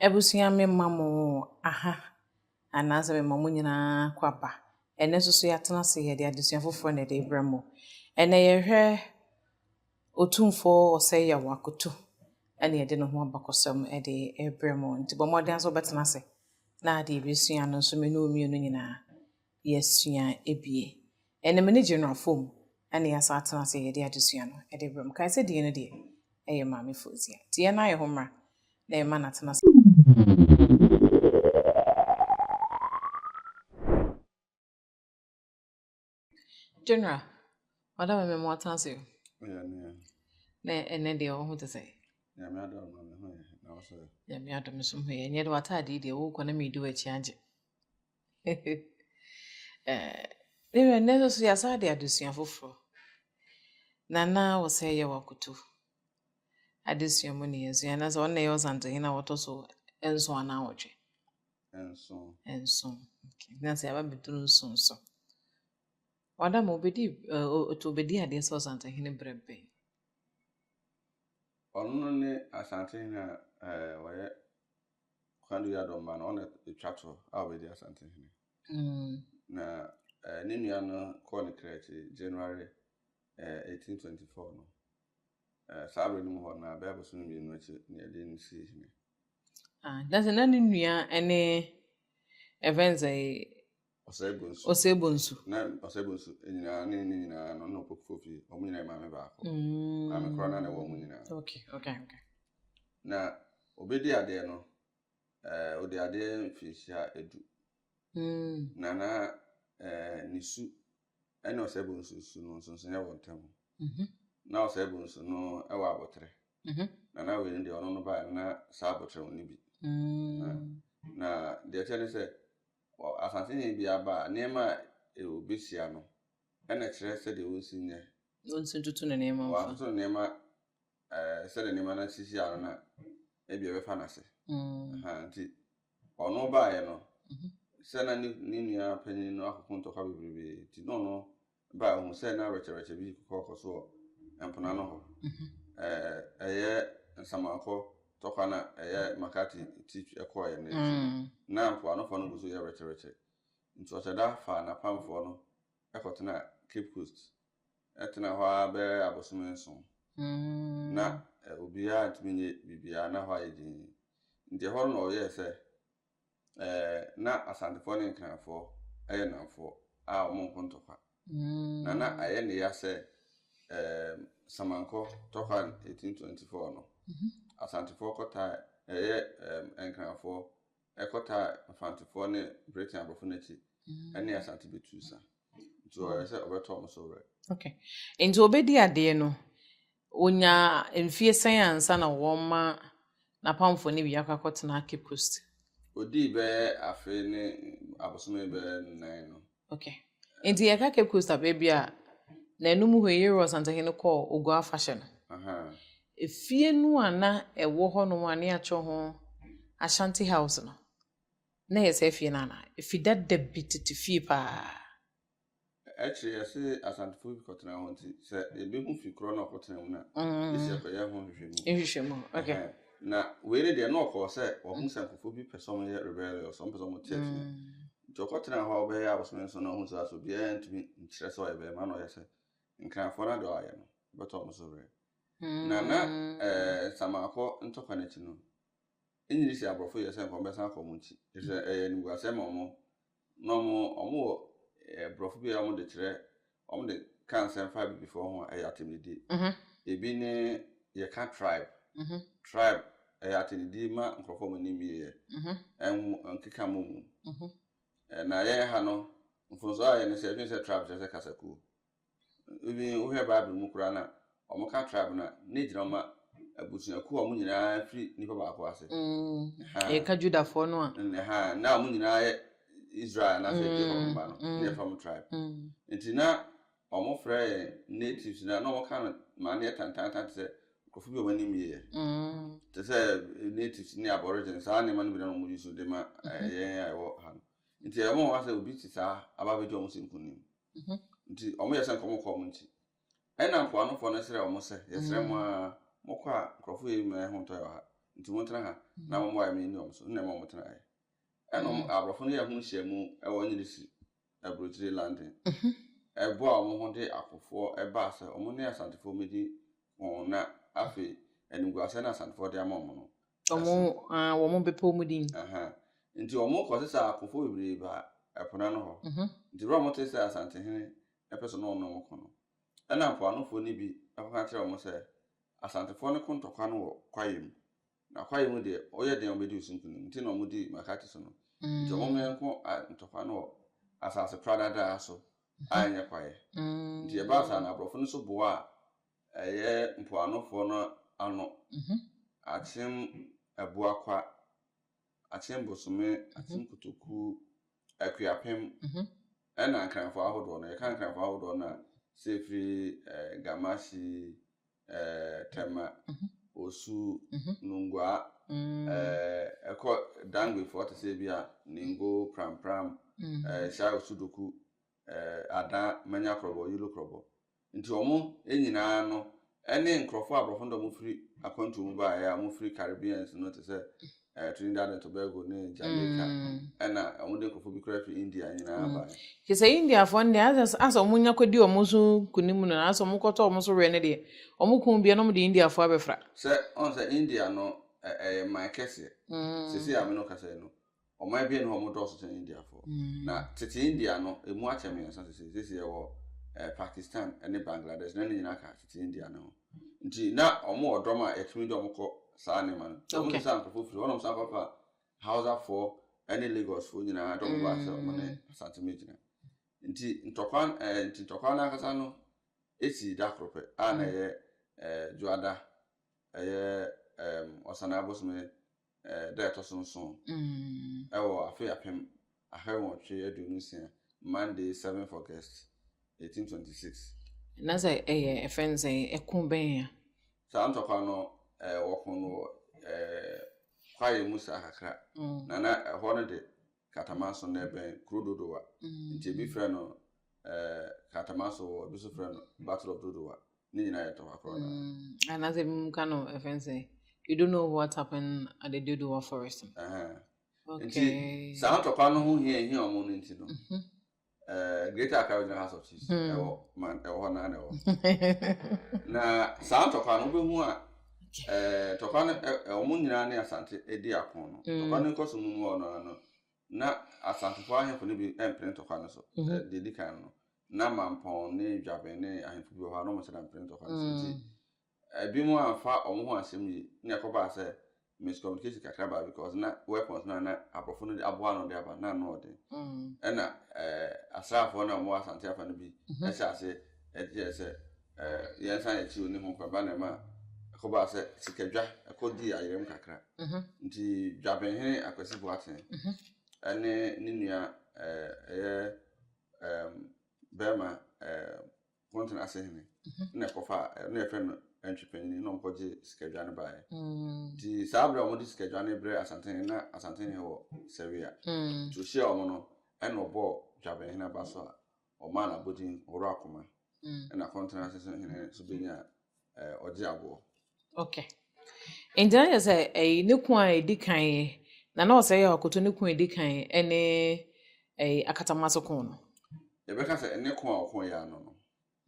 Abusua mema mo aha anaasɛ mema mo nyinaa kɔ aba. Ɛnnɛ nso so yɛatena ase yɛde adesua foforɔ na ɛde rebrɛ mo. Ɛnnɛ yɛhwɛ Otumfoɔ Ɔsɛeyaw Akoto ɛna yɛde ne ho abakɔsɛm ɛde rebrɛ mo. Nti bɔ mmɔden ara sɛ wobɛtena ase na deɛ yɛbɛsua no nso me ne wo mmienu nyinaa yɛasua abue. Ɛnam ani gye no a fam na yɛasan atena ase a yɛde adesua no de rebrɛ mo. Kae sɛ din no deɛ, ɛyɛ Maame Fozia. Enti yɛn ayɛ ho mmara na yɛma no atena ase. General, Madam Ame, mo atena ase o. Ɛyɛ nea. Na ɛnɛ deɛ wo ho te sɛn? Nyame adom ma me ho yɛ he, na wo so ɛ? Nyame adom so ho yɛ. Ɛnyɛ de w'ataade yi deɛ wokɔ na medi w'akyi agye. Ne werɛ nnɛ nso yɛasan de adesua foforɔ na na wɔ sɛ yɛ wakoto adesua mu ne yɛsua na sɛ ɔno na ɛyɛ ɔsantohene a wɔtɔ so nson anaa wɔtwe nson nson na sɛ yɛaba bɛduru nson so wada ma obɛdi ɔtɔ obɛdi adeɛ sɛ ɔsantohene berɛ bɛn ɔno ne asantehene a wɔyɛ Kwadu Yadɔ mma no, ɔna ɛtwa to a ɔbɛdi Asantehene. Mm. Na eh, ne nua no kɔɔ ne kra akyi January eh, 1824 no. Eh, saa berɛ no mu hɔ na bɛyɛ abosome mmienu akyi na yɛde no sii hene. Ah, na sɛ na ne nua ne Evenza yi Ɔsɛɛbo nsu. Ɔsɛɛbo nsu. Na ɔsɛɛbo nsu nyinaa ne ne nyinaa no na ɔkɔkufo fi wɔn nyinaa yɛ maame baako. Mm. Maame kora na na ɛwɔ wɔn nyinaa. Okay, okay, okay. Na obedi adeɛ no, ɛɛ eh, odi adeɛ mfinhyia edu. Mm. Na na ɛɛ eh, ne su ɛne ɔsɛɛbo nsu su no nsonson yɛ wɔn ntam. Mhm. Na ɔsɛɛbo nsu no ɛwɔ abotire. Mhm. Na na wei no deɛ ɔno no baa na saa abotire no bi. Mm. Na deɛ ɛkyɛ ne sɛ. Wɔ asase hene bi aba a, nneɛma a obehyia no na ɛkyerɛ sɛdeɛ ɔnsi nyɛ. Na ɔnsi ntoto ne nneɛma mfa. Wantoto ne nneɛma sɛdeɛ nneɛma no sisi ano na ebia ɛbɛfa no ase. Nti ɔno baeɛ no, sɛ na ne nua panin no akɔko ntɔkwa bebrebe nti na ɔno Bere a ohuu sɛ na rɛkyɛrɛkyɛ bi rekɔ so wɔ mponaa no hɔ, ɛyɛ nsamanfɔ tɔkwa na ɛyɛ Makati ti kɔɔɛ no akyi no, na mpoanofɔ no gu so yɛ rɛkyɛrɛkyɛ. Nti Ɔkyɛda faa n'apamfɔ no kɔtenaa Cape Coast, ɛtenaa hɔ ara bɛyɛ abosome nson. Na obiara ntumi nyɛ biribiara, na hɔ ayɛ dinn. Nti ɛhɔ no na ɔyɛɛ sɛ eh, na Asantefoɔ ne Nkranfoɔ yɛ nnamfoɔ a wɔnko ntɔkwa. Na na ayɛ ne ya sɛ eh, Samankɔ tɔkwa 1824 no, mhm. Asantefoɔ kɔtaa ɛyɛ eh, Nkranfoɔ ɛkɔtaa Mfantefoɔ ne Britain aborɔfo no akyi mhm. ne Asante bɛtuu sa. Nti ɔyɛ sɛ ɔbɛtɔ wɔn so werɛ. Okay. Nti ɔbɛdi adeɛ no, Onyaa mfeɛ sɛn ansa na wɔma n'apamfoɔ no bi akɔ akɔtena Cape Coast? Ɔdii bɛyɛ afe ne abosome bɛyɛ nnan no. Okay. Nti yɛka Cape Coast a baabi a n'anom hɔ yi Yeroboam Santahene kɔɔ Oguaa afahyɛ no. Ahaa. Efie no a na ɛwɔ hɔnom a na yɛatwerɛ ho Ashanti House no, na ɛyɛ saa fie no anaa? Efi dada bi tete fie paa. Akyiri yi, ɛsee Asantefoɔ bi kɔtenaa hɔ nti, sɛ yɛbɛhu fi korɔ no a ɔkɔtenaa mu no a, gyesɛ yɛkɔyɛ ho nhwehwɛmu. Nhwehwɛmu, ok. Ɛhɛn. Na wei no deɛ, na ɔkɔɔ sɛ wahu sɛ nkorɔfoɔ bi pɛ sɛ wɔyɛ rebellious, wɔpɛ sɛ wɔte atua. Nti ɔkɔtenaa hɔ bɛyɛ abosome nson na ɔhuu sɛ asɛ obiara ntumi nkyerɛ sɛ ɔyɛ bɛrima na ɔyɛ sɛ Nkranfoɔ no adeɛ a wɔayɛ no, ɛbɛtɔ wɔn so werɛ. Na na ɛɛ Nsamaakɔ ntɔkwa no akyi no, Nnye nni sɛ aborɔfo yɛ sɛ nka wɔbɛsan akɔ wɔn nkyi, efisɛ ɛyɛ animguasɛm ma wɔn, na wɔn wɔwɔ borɔfo bi a wɔde kyerɛ, wɔde ka nsɛm fa abibifo ho a ɛyɛ atemnidi. Ebi ne yɛka tribe, tribe, ɛyɛ atemnidi ma nkurɔfo a wɔn ani mmie yɛ, ɛnwo nkeka mmɔ mu. Na yɛn ha no, mfomso a yɛyɛ ne sɛ yɛdwene sɛ tribe kyerɛ sɛ kasakuo. Even wohwɛ Bible mu koraa no a, wɔka tribe no a, na egyina wɔn abusuakuo a wɔn nyinaa firi nipa baako ase. Mm. Ha. Yɛka Judafoɔ no a. Mm, ha. Na wɔn nyinaa yɛ Israel anaasɛ mm, Jacob mma no, mm, na yɛfrɛ wɔn tribe. Mm. Nti na wɔfrɛ yɛn natives na na wɔka no ma no yɛ tantaanta te sɛ nkurɔfo bi a wɔn anim yɛ. Mm. Te sɛ eh, natives ne aborigines saa nneɛma no bi na wɔn yi so de ma eh, mm-hmm. yɛn a ɛwɔ ha no. Nti ɛwɔ wɔn asɛ obi te saa aba abɛgye wɔn sɛ nkunim. Nti wɔyɛ sɛ nkɔmmɔ kɔɔ wɔn nti. Ɛnna mpoanofoɔ no srɛɛ wɔn sɛ, Yɛsrɛ mo ara, mokɔ a, nkurɔfoɔ yei nyinaa ho ntɔ yɛ wɔ ha, nti montena ha na momma wɔayɛ me nni wɔn so. Nna ɛma wɔtenaeɛ. Ɛnna wɔn aborɔfo no yɛɛ ho nhyiamu wɔ Nyirisi aburokyire London. Ɛboaa wɔn ho de akofoɔ baa sɛ wɔne Asantefoɔ mmɛdi wɔn na afei animguaseɛ no a Asantefoɔ de ama wɔn no, Wɔn, ah, wɔn bepɔw mu din. Nti wɔn kɔ sɛ sɛ apofo bebree ba ɛpo n'ano hɔ. Mhm. Nti bere a wɔn te sɛ Asantehene ɛpɛ sɛ ɔne wɔn ne wɔn ko no, ɛna mpoanofoɔ no bi ɛkɔka kyerɛ wɔn sɛ Asantefoɔ no ko ntɔkwa no wɔ kwaeɛ mu, na kwaeɛ mu deɛ ɔyɛ den a wɔbɛdi wɔn so nkunim, nti na wɔn di Makati so no. Mm. Nti wɔn mmɛn ko a ntɔkwa no wɔ asase pradadaa so a ɛnyɛ kwaeɛ. Mm. Nti ɛbaa saa na aborɔfo no so boaa Ɛyɛ mpoanofoɔ no ano, Akyem Abuakwa, Akyem Bosome, Akyem Kotoku, Akuapem, ɛna Nkranfoɔ ahodoɔ no. Yɛka Nkranfoɔ ahodoɔ no a, sɛ ɛfiri Gamasi, Tema, Osu, Nungua, ɛkɔ Dangbefoɔ te sɛ bi a Ningo, Prampram, Shai Osudoku, eh, Adan, Manya Krɔbɔ, Yolo Krɔbɔ. Nti wɔn nyinaa no ne nkurɔfoɔ a aborɔfo dɔm firi akwantuo mu baeɛ a wɔfiri Caribbeans no te sɛ eh, Trinidad and Tobago ne Jamaica mm. ɛna wɔn de nkurɔfoɔ bi koraa firi India nyinaa mm. baeɛ. Kyɛ sɛ Indiafoɔ no deɛ asɛ wɔn nya kɔdi wɔn so kunim no na asɛ wɔn kɔtɔ wɔn so wɛ no deɛ wɔn kun bia na wɔn de Indiafoɔ abɛfra. Sɛ ɔn sɛ India no ɛyɛ man kɛseɛ mm. sisi a mene kasa no Ɔman abien no hɔ ɔmo dɔɔso kyɛn India foɔ. Na tete India no emu akyɛ mmiɛnsa sesei. Sesei yɛwɔ eh, Pakistan ne Bangladesh na ne nyinaa ka tete India no ho. Nti na ɔmo wɔ dɔm a yɛtumi de ɔmo kɔ saa nneɛma no. Sɛ ɔmo Okay. te sɛ ankorɔfo firi hɔnom san kɔfa Hausa foɔ ne Lagos foɔ nyinaa dɔm ba sɛ ɔmo ne Mm. Asante ma gyina. Nti ntɔkwa eh, nti ntɔkwa no ankasa no esi da koro pɛ a na Mm. ɛyɛ eh, Dwoada ɛyɛ eh, Ɔsanaa bosome eh, da a ɛtɔ so nson mm. wɔ afe apem ahawɔtwe aduonu nsia Monday seventh August eighteen twenty six. Na sɛ ɛyɛ ɛfɛ n sɛ ɛko bɛn a. Saa ntɔkwa no eh, wɔko no wɔ eh, kwaeɛ mu saa kakra mm. na na ɛhɔ no de katamanso na ɛbɛn kuro dodowa mm. nti ebi frɛ no eh, katamanso wɔ ebi nso frɛ no battle of dodowa. ne nyinaa yɛ tɔfa korɔ no mm, anaasɛ bi mu ka no ɛfɛn sɛ you don't know what happened at the dodowa forest nti saa tɔpa no ho hia hia ɔmo no nti no mhm. eh, greater accra regional house of chiefs hmm. ɛwɔ man ɛwɔ hɔ naa na ɛwɔ na saa tɔpa no wobɛhu a eh, tɔpa no eh, ɔmo nyinaa ne asante di ako no hmm. tɔpa no nkɔ so mu mu hɔ no na asantefo ahemfo no bi mpene tɔpa no so mhm. deɛ di kan no na mampɔn ne dwabɛn ne ahemfo bi wɔ hɔ a na wɔn nsa da mpene ntɔkwa no so nti ebinom amfa wɔn ho asɛm yi na ɛkɔbaa sɛ miscommunication kakra baa because na weapons no a na aborɔfo no aboa ano de aba na ano ɔden mm. ɛna ɛɛ eh, asraafoɔ no a wɔwɔ asante afa no bi mhm. ɛhyɛ ase ɛgyeɛ sɛ ɛɛ eh, yɛn nsa yɛ akyi oni ho kwan ba na ɛma ɛkɔbaa sɛ sikadwa ɛkɔ di ayerɛm kakra mhm. nti dwabɛnhene akwasi boaten mhm. ɛne ne nua ɛɛ eh, ɛyɛ. um, bɛrima um, kɔntena ase hene na ɛkɔfa na yɛfrɛ no antwi panyini na ɔmkɔgye sikadwa no baeɛ nti saa berɛ a wɔde sikadwa no brɛ asantene na asantene wɔ sɛwea nti ɔhyia wɔn no ɛna ɔbɔɔ dwabenhene aba so a ɔmaa no abɔdin ɔworo akoma ɛna kɔntena ase hene so bɛnya eh, ɔgye aboɔ okay nti na kyerɛ sɛ ɛyi ne ko a ɛdi kan yi na na ɔsɛ yɛ ɔkoto ne ko a ɛdi kan ɛne ɛyi akatama so ko no yɛbɛka sɛ ne ko a ɔko yɛ ano no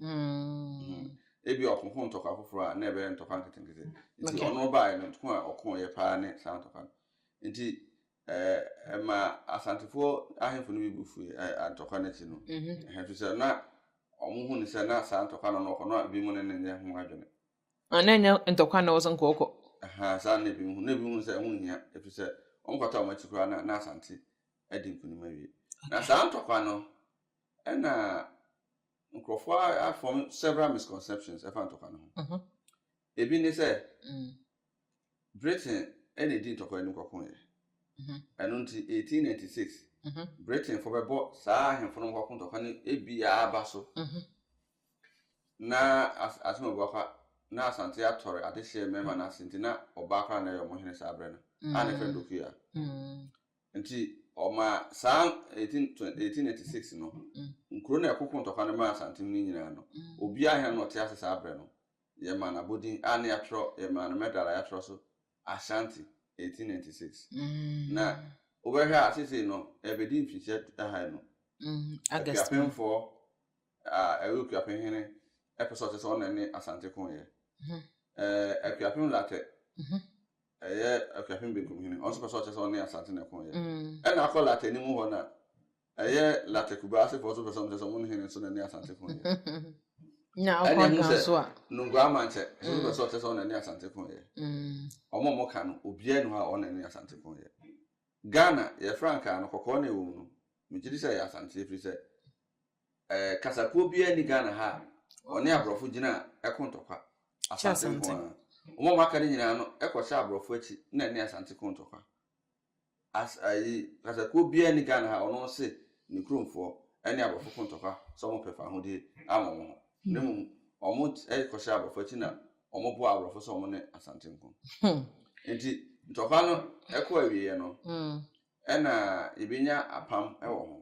mm. ebi ɔkoko ntɔkwa foforɔ a na ɛbɛyɛ ntɔkwa nketenkete nti Okay. ɔno baeɛ no ko a ɔko yɛ paa ne saa ntɔkwa no nti Ɛmaa Asantefoɔ ahemfo no bi bo fuiɛ ntɔkwa no akyi no, ɛfiri sɛ na wɔhu no sɛ na saa ntɔkwa no na ɔkɔ na ebinom ne no nyɛ ho adwene. Na ɛnyɛ ntɔkwa na ɛwɔ sɛ nka ɔkɔ. Saa na ebinom hu. Na ebinom hu sɛ ɛho nhia, ɛfiri sɛ wɔkɔtɔ wɔn akyi koraa na na Asante adi nkunim awie. Na saa ntɔkwa no na nkurɔfoɔ afɔm several misconceptions ɛfa ntɔkwa no ho. Ebi ne sɛ, Britain na edii ntɔkwa no kɔkoeɛ. Ɛno nti, 1896, Britainfoɔ bɛbɔ saa ahemfo no nkɔko ntɔkwa no ebia aba so na asɛm a ɛbɛba fa na Asante atɔre adehyeɛ mmarima no ase nti na ɔbaa koraa na ɛyɛ wɔn hene saa berɛ no a na ɛfrɛ no Dokuya. Nti ɔma saa 1896 no nkuro na ɛkoko ntɔkwa no maa Asantehene nyinaa no, obiara hena na ɔte ase saa berɛ no Yɛmaa no abodin a na yɛatwerɛ, yɛmaa no medal a yɛatwerɛ so Ashanti 1896. Na wobɛhwɛ a seesei no ɛrebɛdi mfirihyia du aha nnum. Akuapemfoɔ a ɛyɛ Okuapem hene pɛ sɛ ɔkyerɛ sɛ ɔna ne Asante ko yɛ. Akuapem Lartɛ ɛyɛ Akuapem benkum hene, ɔno nso pɛ sɛ ɔkyerɛ sɛ ɔne Asante na ɛko yɛ. Ɛna akɔ Lartɛ anim hɔ no a, Ɛyɛ latte kubaa asefoɔ nso pɛ sɛ wɔn kyɛ sɛ wɔn hene nso na ne asante ko yɛ. Nya ɛne ɛho sɛ so a. Nungua amankyɛ nso mm. pɛ sɛ ɔkyɛ sɛ wɔn na ne asante ko yɛ. Wɔn mm. a wɔka no obiara ni hɔ a wɔn na ne asante ko yɛ. Ghana yɛ frankaa no kɔkɔɔ na ɛwɔ mu no megye di sɛ ɛyɛ asante efiri sɛ ɛɛ eh, kasakuo biara ni Ghana ha a wɔne aborɔfo gyina ɛko ntɔkwa asante nko ara. Wɔn a wɔaka no nyinaa no ɛkɔhyɛ aborɔfo akyi na ne asante ko ntɔkwa. As ayi kasakuo biaa nni Ghana ha ɔno se ne kurom foɔ ɛne abrɔfo ko ntɔkwa sɛ ɔmo pɛ fahodie ama ɔmo ho na mmom ɔmo kɔ hyɛ abrɔfo akyi na ɔmo boa abrɔfo sɛ ɔmo ne Asante nko nti ntɔkwa no ɛkɔ awieɛ no ɛna yɛbɛnya apam ɛwɔ ho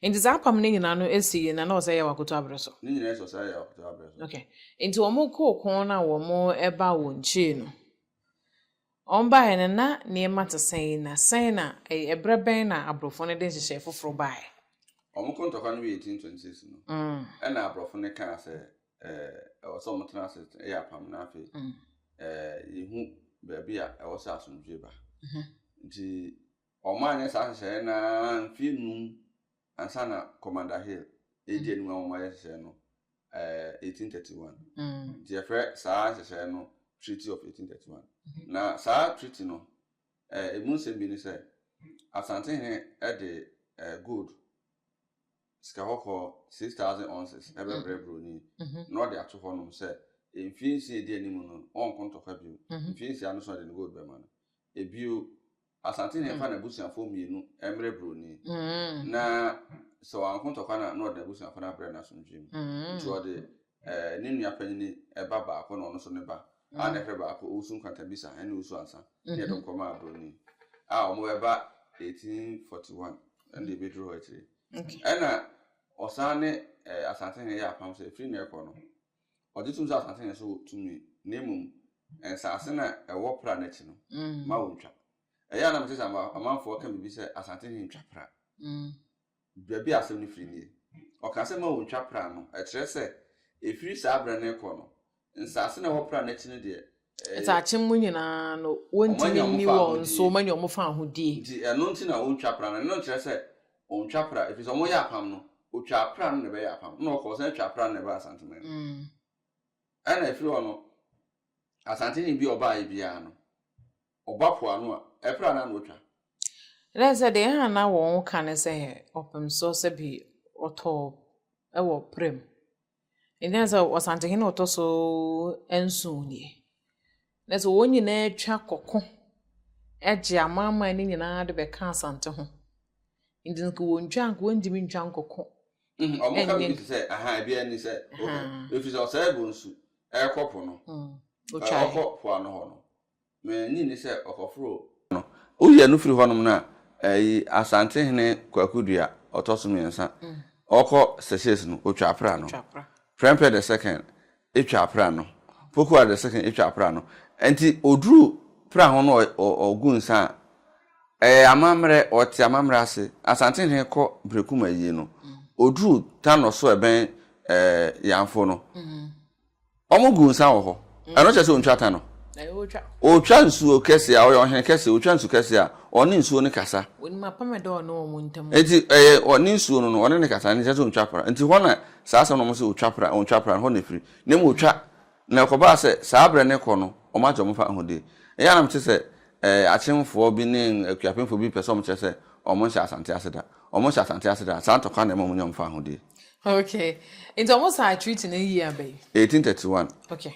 Nti saa apam no nyinaa no ɛsi yi na na ɔsɛ yɛ wakoto abrɛ so ne nyinaa ɛsɛ ɔsɛ yɛ wakoto abrɛ so okay nti ɔmo koo ko na ɔmo ɛba wɔ nkyee no Wɔbaeɛ no na nneɛma te sɛn, na sɛn na ɛyɛ ɛberɛ bɛn na aborɔfo no de nhyehyɛe foforo baeɛ? Wɔn kɔ ntɔkwa no wɔ 1826 no, ɛnna aborɔfo no kaa sɛ ɛwɔ sɛ wɔtena ase yɛ apam na afei yɛhu baabi a ɛwɔ sɛ asomdwoe ba. Nti wɔanyɛ saa nhyehyɛe no ara mfeɛ nnum ansa na Commander Hill redi anim a wɔayɛ nhyehyɛe no, ɛɛ 1831. Nti yɛfrɛ saa nhyehyɛe no Treaty of 1831. Na saa treaty no, ɛɛ emu nsɛm bi ne sɛ, Asantehene de ɛɛ gold, sika kɔkɔɔ, 6,000 ounces bɛbrɛ Broni, na ɔde ato hɔnom sɛ mfe nsia a edi anim no, ɔnko ntɔkwa bio. Mfe nsia no so na ɔde ne gold bɛma no. Ebio, Asante na ɛmfa n'abusuafoɔ mmienu mmrɛ buroni, na sɛ wanko ntɔkwa no a, na ɔde n'abusuafoɔ no abrɛ no asomdwoeɛ mu. Nti ɔde ne nua panyin ba baako na ɔno nso ne ba a na ɛhwɛ baako, Owusu Nkwantabisa ne Owusu Ansa, ne yɛde wɔn kɔmaa buroni a wɔbɛba 1841 ɛna deɛ ɛbɛduru hɔ akyire. Ɛna ɔsan ne Asantehene yɛ apam sɛ ɛfiri nnɛ rekɔ no, Ɔgye tom sɛ asase na ɛso tumi, na mmom nsase no a ɛwɔ pra no akyi no ma wontwa. Ɛyɛ a na mete sɛ amanfoɔ ka biribi sɛ Asante he ntwa pra. Baabi a asɛm no firi nie. Ɔka sɛ ma wontwa pra no, ɛkyerɛ sɛ, efiri saa berɛ no rekɔ no, nsase no a ɛwɔ pra no akyi no deɛ, Nsakye mu nyinaa no, wɔntumi nni wɔn so, wɔanya wɔn fawohodie. Nti ɛno nti na wɔntwa pra no, ɛno nkyerɛ sɛ wɔntwa pra, ɛfiri sɛ wɔyɛ apam no, wɔtwaa pra no na ɛbɛyɛ apam, ɛna wɔkɔɔ sane twaa pra no na ɛbaa Asanteman mu. Ɛna ɛfiri hɔ no, Asantehene bi a ɔbaeɛ biara no, ɔba po ano a, ɛpra no ara na ɔtwa. Ɛna sɛ deɛ ɛha na wɔn ka ne sɛ ɔpem soɔ sɛ bi ɔtɔɔ wɔ pra mu. Ɛnkyɛree sɛ Ɔsantehene a ɔtɔ so nson nie. Na sɛ wɔn nyinaa twa kɔko gye amanaman no nyinaa de bɛka Asante ho. Nti nka wɔntwa nka wɔntumi ntwa nkɔko. Mm, wɔn ka bi te sɛ aha ebi ani sɛ oho efi sɛ ɔsɛe bo nsu ɛkɔ po no. Ɔkɔ po ano hɔ no. M'ani nni sɛ ɔkɔforo kwan no. Woyi ɛno firi hɔnom no a, ɛyi Asantehene Kwaku Dua, ɔtɔ so mmiɛnsa, ɔkɔ Seychelles no, ɔtwa apra no. Prempeh the Second twa apra no. Pokuah the Second twa apra no. Enti ɔduru pra ho no ɔgu nsa a, ɛyɛ amammerɛ, ɔte amammerɛ ase. Asantehene kɔ Brekum ayie no, ɔduru Tanor so ɛbɛn Yanfo no, Wɔn gu nsa wɔ hɔ. Ɛno kyerɛ sɛ ontwa ka no. Otwa nsuo kɛse a ɔyɛ ɔhene kɛse otwa nsu kɛse a ɔne nsuo no kasa. Wɔnim apam ɛda ɔne wɔn ntam. Nti ɛyɛ ɔne nsuo no no ɔne ne kasa ne kyerɛ sɛ ontwa pra. Nti hɔ na saa asɛm na wɔn sɛ otwa pra ontwa pra hɔ na efiri. Na emu otwa na ɛkɔbaa sɛ saa brɛ ne kɔ no wɔn agye wɔn fa ahodie. Ɛyɛ a na mete sɛ ɛɛ akyemfoɔ bi ne akuapemfoɔ bi pɛ sɛ wɔn kyerɛ sɛ wɔn nhyɛ Asante ase da. Ɔmo hyɛ asante ase daa. Saa ntɔkwa na ɛma ɔmo nya ɔmo faahodie. Okay. Nti ɔmo sign treaty no year bɛn? Eighteen thirty one. Okay.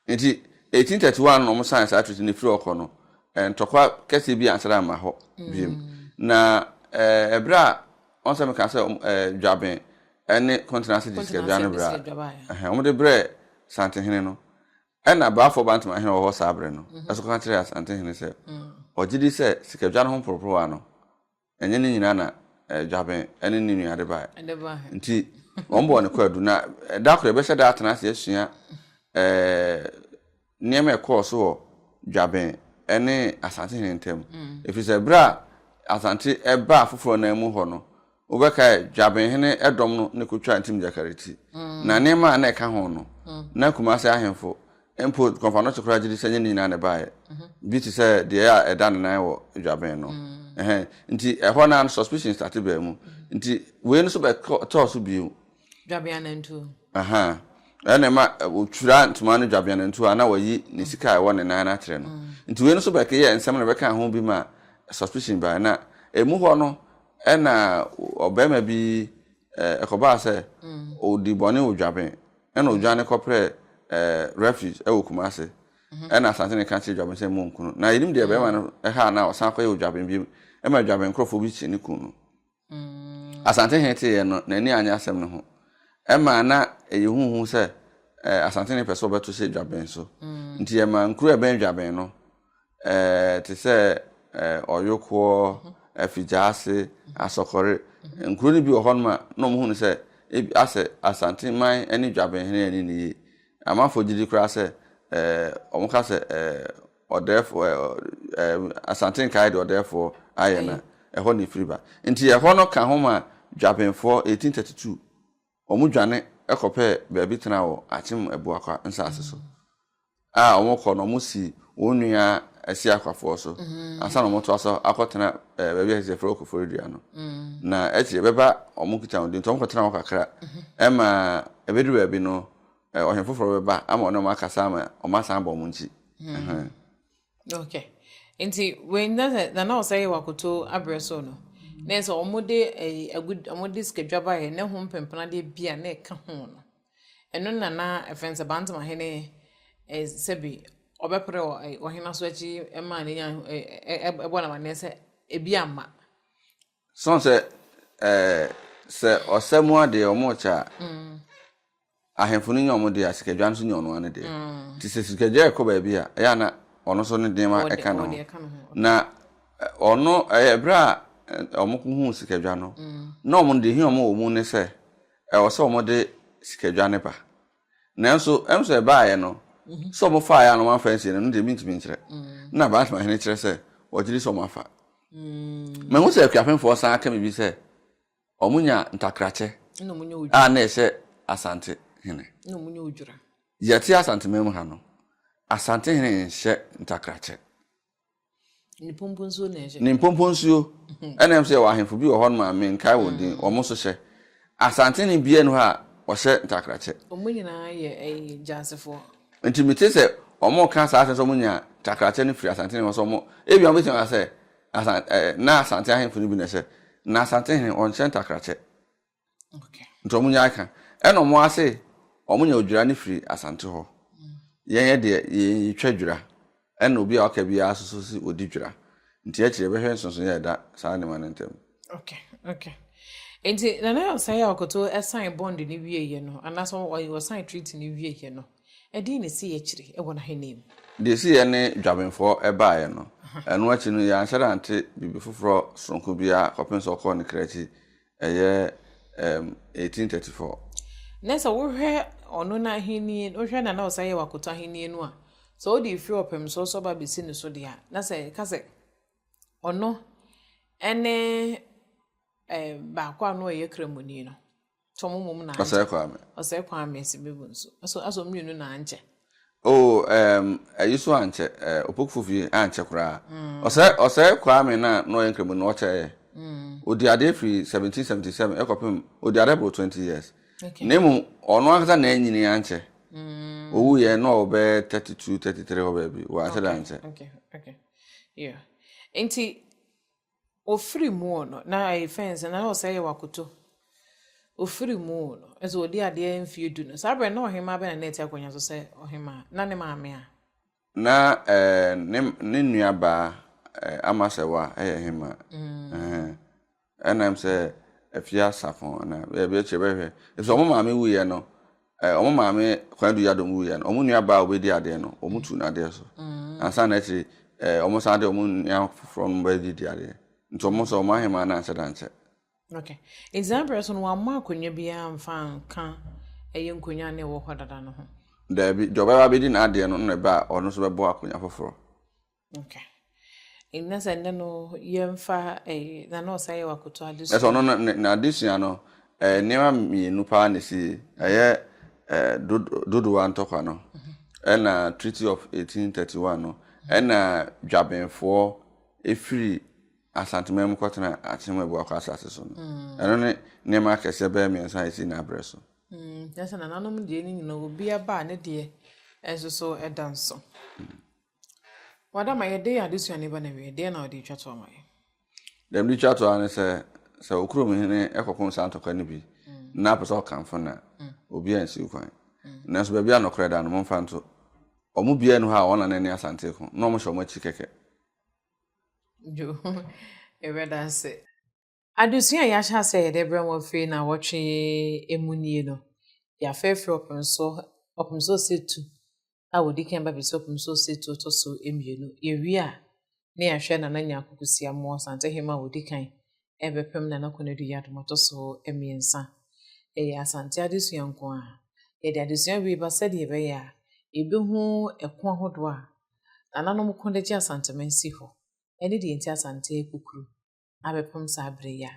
Nti eighteen thirty one na ɔmo sign saa treaty no firi hɔ kɔ no, eh, ntɔkwa kɛseɛ bi ansan amma hɔ biom. Mm. Na eh, ɛberɛ a wɔn sɛ meka sɛ ɔmo eh, dwaben ɛne kɔntena ase de sikadwa no berɛ a, ɛhɛn, wɔn de brɛ santehene no. Ɛna baafoɔ bantama hene wɔ hɔ saa berɛ no, ɛso ka kyerɛ asantehene sɛ, ɔgye di sɛ sikadwa no ho mporoporowa no, ɛnyɛ ne nyinaa na eh, dwaben ne ne nua de bae. Nti wɔn bɔɔ no kwaadu. Na eh, da koro yɛbɛhyɛ da atena ase asua eh, nneɛma ɛkɔɔ so wɔ dwaben ne asante hene ntam. Mm. Ɛfiri sɛ berɛ a asante ɛbaa afoforɔ nan mu hɔ no, wobɛkae dwaben hene ɛdɔm no ne kɔtwaa ntim gyakareti. Mm. Na nneɛma a na ɛka ho no, mm. na kumase ahemfo Mpo dwomtoafoɔ no te koraa gye di sɛ ɛnyɛ ne nyinaa na ɛbaeɛ. Bi te sɛ deɛ a ɛda ne nan wɔ dwaben no. Ɛhɛn. Nti ɛhɔ no ara no suspicion starte baa mu. Nti wei no nso bɛtɔɔ so bio. Dwabeanantuo. Ahaa. Ɛno na ɛma wɔtwiraa ntoma no Dwabeanantuo a na wɔayi ne sika a ɛwɔ ne nan no akyerɛ no. Nti wei no nso bɛkeyɛɛ nsɛm na ɛbɛkaa ho bi maa suspicion baeɛ. Na ɛmu hɔ no na ɔbarima bi ɛkɔbaa sɛ ɔdii bɔne wɔ dwaben. Ɛna odwane kɔprɛɛ refuge wɔ Kumasi. Ɛna Asante no ka kyerɛ Dwaben sɛ monku no. Na yɛnim deɛ barima no haa na ɔsan kɔyɛ wɔ Dwaben bio. Ɛma Dwaben nkurɔfoɔ bi kyee no kuu no. Asante hene teeɛ no, n'ani annye asɛm no ho. Ɛma na ɛyɛ huhu sɛ Asante no pɛ sɛ ɔbɛto hyɛ Dwaben so. Nti ɛma nkuro a ɛbɛn Dwaben no te sɛ Ɔyokoɔ, Afigyaase, Asɔkɔre, nkuro no bi wɔ hɔnom a na wɔhu no sɛ asɛ Asante man ne Dwabenhene ani nni yie. Amanfoɔ gye di koraa sɛ wɔn ka sɛ ɔdɛɛfoɔ Asante nkaeɛ deɛ ɔdɛɛfoɔ ayɛ no a ɛhɔ na ɛfiri ba. Nti ɛhɔ no ka ho maa Dwabenfoɔ 1832. Wɔdwane kɔpɛɛ baabi tenaa wɔ Akyem Abuakwa nsase so. A wɔkɔ no, wɔsii wɔn nua Asia Akwafoɔ so ansa na wɔtoa so akɔtena baabi a yɛfrɛ wɔ Koforidua no. Na akyire bɛba wɔn kita wɔn din nti wɔkɔtena hɔ kakra ma ɛbɛduru baabi no, ɔhene foforɔ bɛba ama wɔne wɔn akasa ama wɔasan abɔ wɔn nkyi. Okay. Nti wei na sɛ na na ɔsɛ yɛ wakoto abrɛ so no. Na sɛ wɔn de ɛyi agu wɔn de sikadwaba yɛ ne ho mpempena deɛ bi a na ɛka ho no. Ɛno na na ɛfɛn sɛ bantama hene ɛ sɛbi ɔbɛpere wɔ ɛ ɔhene aso akyi ɛma ne nya ɛ ɛ ɛbɔ n'amaneɛ sɛ ebi ama. So ɔn sɛ ɛɛ sɛ ɔsɛ mu adeɛ wɔn rekyɛ a ahemfo no nya wɔn deɛ a sikadwa no nso nya ɔno ara ne deɛ nti sɛ sikadwa rekɔ baabi a ɛyɛ a na ɔno nso ne nneɛma ɛka ne ho na ɔno ɛyɛ berɛ a wɔn hu sikadwa no na wɔn deɛ hia wɔn wɔ mu ne sɛ ɛwɔ sɛ wɔn de sikadwa ne ba. Nanso ɛno sɛ ɛbaeɛ no, sɛ wɔfaeɛ a na wɔamfa ansie no, ɛno deɛ mentumi nkyerɛ. Na Baasema hene kyerɛ sɛ wɔgye di sɛ wɔafa. Mahu sɛ Akuapemfoɔ san aka biribi sɛ wɔnya ntakrakyɛ a na ɛhyɛ Asante hene. Yɛte Asanteman mu ha no, Asante hene nhyɛ ntakrakyɛ. ne pompo nsuo na ɛhyɛ ne mpompo nsuo mhm. ɛna ɛm sɛ yɛwɔ ahemfo bi wɔ hɔ nom a menkae wɔn din mm. wɔn so hyɛ asante ne bia no hɔ a wɔhyɛ ntakrakyɛ wɔn nyinaa yɛ ɛyɛ gyansefoɔ nti mete sɛ wɔn ka saa asɛm sɛ wɔn nya ntakrakyɛ no firi asante ne hɔ sɛ wɔn ebi wɔn bɛtumi asɛ asan ɛɛ na asante ahemfo no bi na ɛhyɛ na asante hene wɔn hyɛ ntakrakyɛ nti ɔmo nya aka ɛna ɔmo ase ɔmo nya odwira no firi asante hɔ yɛn yɛ deɛ yɛn yɛtwa dwira ɛna obi a ɔka biara soso si ɔdi dwira nti akyire yɛbɛhwɛ nsonso yɛ ɛda saa nneɛma no ntam. okay okay nti nana yɛ ɔsan yɛ ɔkoto ɛsan bond ne wie yɛ no anaasɛ ɔsan treat ne wie yɛ no ɛdin ne si yɛ akyire ɛwɔ n'ahenni mu. deɛ si yɛ ne dwabenfoɔ ɛbaayɛ no ɛno akyi no yɛanhyɛ da nte biribi foforɔ soronko biara kɔpem sɛ ɔkɔɔ ne kra akyi Ɛyɛ um, 1834. Na sɛ wohwɛ ɔno n'ahenni, wohwɛ na na ɔsan yɛ wakoto ahenni no a, sɛ wode efiri ɔpɛm so so ba besi ne so deɛ a, na sɛ ɛka sɛ ɔno ɛne eh, baako a no ɔyɛ kramoni no. So mo mom na ankyɛ. Ɔsɛe Kwame. Ɔsɛe Kwame si bebo nso. So aso mmienu na ankyɛ. Oh ɛɛm ayi so ankyɛ ɛɛ Opokufo fie ankyɛ koraa. Ɔsɛe ɔsɛe Kwame na na ɔyɛ Nkremoni no ɔkyɛ yɛ. Odi ade firi 1777 ɛkɔpem odi ade boro 20 years. Na mmom ɔno ankasa na anyini ankyɛ. Owu yɛ na ɔwɔ bɛyɛ 32 33 hɔ baabi. Wanhyɛ da ankyɛ. Okay okay yeah nti Ofiri mu o no na ɛyɛ fɛns na ɔsɛ yɛ wakoto ofiri mu o no ɛsɛ ɔdi adeɛ mfie du no saa berɛ na ɔhemaa bɛn na na ɛte akonnwa so sɛ ɔhemaa na ne maame a. Na eh, ne, ne nua baa eh, Amasɛwa ɛyɛ hemaa mm. eh, ɛnam sɛ afie asafo anaa baabi akyire bɛhwɛ ɛfisɛ ɔmo maame wuiɛ no Eh, wɔn maame Kwame Duya Dom wuiɛ no, wɔn nua baa a ɔbɛdi adeɛ no, wɔn tu n'adeɛ so. Mm. Ansa na akyiri, eh, wɔn san de wɔn nua foforɔ no bɛdi di adeɛ. Nti wɔn nso, wɔn ahemaa no anhyɛ da nkyɛ. Okay. Nti saa berɛ so no, wɔammɔ akonnwa biara mfa nka ɛyɛ nkonnwa na ɛwɔ hɔ dada no ho? Daabi, deɛ ɔbɛba abɛdi n'adeɛ no na ɛba a, ɔno nso bɛbɔ akonnwa foforɔ. Okay. Ɛnyɛ sɛ ɛnɛ no yɛmfa ɛyi na na ɔsan yɛ wakoto adesua. Ɛsɛ ɔno na adesua no ɛɛ nneɛma mmienu paa na esi ɛyɛ ɛɛ dodowa ntɔkwa no mhm. ɛna Treaty of 1831 no mhm. ɛna dwabenfoɔ efiri asanteman mu kɔtena akyem abuakɔ asase so no mm. ɛno ne nneɛma akɛseɛ bɛyɛ mmiɛnsa esi n'abrɛ so. Mm. Ɛsɛ nananom deɛ ne nyinaa obi aba ne deɛ ɛnso so ɛda nso. Mm. W'adama, yɛde yɛn adesua no ba no awiei, deɛn na wode retwa toɔ ama yɛn? Deɛ mede retwa toɔ ara ne sɛ, sɛ wo kurom hene kɔpem saa ntɔkwa no bi na apɛ sɛ ɔkamfo no a, obiara nsi wo kwan. Nanso baabi a nɔkorɛ da no, momfa nto. Wɔn mu biara nni hɔ a wɔn anan nni asante ko na wɔhyɛ wɔn akyi kɛkɛ. Dwo, yɛbɛda ase. Adesua a yɛahyɛ ase a yɛde brɛ mo afei naawɔtwe yi mu nie no, yɛafa afiri ɔpem so ɔpem so ɔsatu a wɔdi kan ba bɛsi ɔpem so ɔsatu ɔtɔ so mmienu. Yɛwie a, ne yɛahwɛ Nana Nyarko Kusiamoah Asantehene a ɔdi kan ɛrebɛpem Nana Konadu Yiadom ɔtɔ so mmiɛnsa. Ɛyɛ Asante adesua nko ara. Yɛde adesua wei ba sɛdeɛ ɛbɛyɛ a yɛbɛhu ɛko ahodoɔ a Nananom ko de gye Asanteman si hɔ ɛne deɛ nti Asante rekukuru. abɛpem saa bere yi a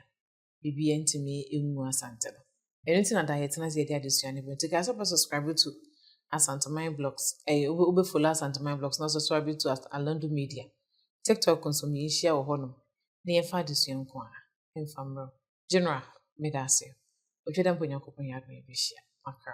biribiara ntumi ngu Asante no. Ɛno nti na daa yɛtena ase yɛde adesua no ba. Nti kae sɛ wobɛ subscribe to Asanteman Blogs, eh, wobɛ follow Asanteman Blogs na subscribe to Alandu Media. TikTok nso ma yɛnhyia wɔ hɔnom na yɛmfa adesua nko a mfa mmerɛw. General, meda ase. Otwa dɛ mpo Nyankopɔn yɛ adom yɛbɛhyia. Makra.